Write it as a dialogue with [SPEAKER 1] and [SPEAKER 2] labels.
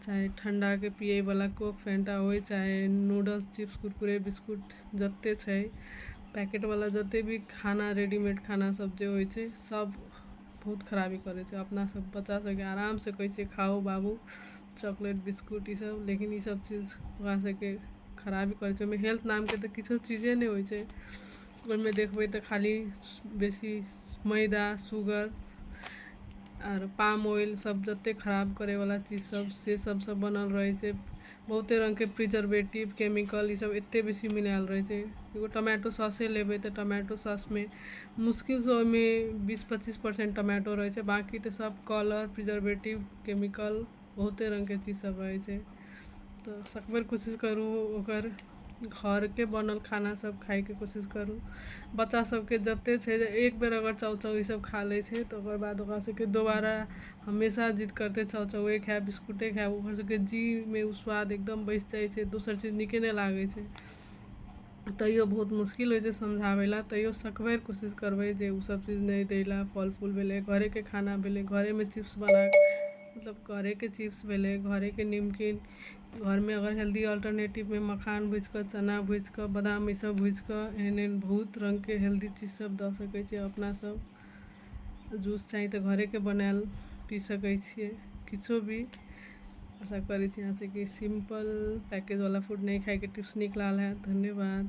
[SPEAKER 1] चाहे ठण्डाके पियैवला कोक फेन्टा होइ चाहे नूडल्स चिप्स कुरकुरे बिस्कुट जते छै पैकेटवला जते भी खाना रेडीमेड खाना सब जे होइ छै सब बहुत खराबी करै छै अपना सब बच्चा सबके आरामसँ कहै छियै खाउ बाबू चॉकलेट बिस्कुट ई सब लेकिन ई सब चीज ओकरा सबके खराबी करै छै ओइमे हेल्थ नामके तऽ किछो चीजे नहि होइ छै ओइमे देखबै तऽ खाली बेसी मैदा शुगर आर पाम ऑयल सब जते खराब करै वाला चीज सब से सब सब बनल रहै छै बहुते रंग के प्रिजर्वेटिव केमिकल इसब एते बेसी मिलायल रहै छै एगो टोमेटो सौसे लेबै तऽ टोमेटो सौस मे मुश्किल सँ ओहिमे बीस पच्चीस परसेंट टोमेटो रहै छै बाँकी तऽ सब कलर प्रिजर्वेटिव केमिकल बहुते रङ्गके चीज सब रहै छै तऽ सकभर कोशिश करू ओकर घरके बनल खाना सब खाइके कोशिश करू बच्चा सबके जते छै जे एक बेर अगर चाउ चाउ ई सब खा लै छै तऽ ओकर बाद ओकरा सबके दोबारा हमेशा जिद करतै चाउ चाउवे खायब बिस्कुटे खायब ओकर सबके जीहमे उ स्वाद एकदम बैस जाइ छै दोसर चीज नीके नहि लागै छै तैयो बहुत मुश्किल होइ छै समझाबै लए तैयो सकबैर कोशिश करबै जे ओ सब चीज नहि दै लए फल फूल भेलै घरेके खाना भेलै घरेमे चिप्स बना कऽ मतलब घरेके चिप्स भेलै घरेके निमकिन घरमे अगर हेल्दी अल्टरनेटिवमे मखान भुजि कऽ चना भुजि कऽ बदाम ई सब भुजि कऽ एहन एहन बहुत रङ्गके हेल्दी चीज सब दऽ सकै छियै अपना सब जूस चाही तऽ घरेके बनायल पी सकै छियै किछो भी आशा करै छी अहाँ सबके सिम्पल पैकेज बला फूड नहि खायके टिप्स नीक लागल होयत धन्यवाद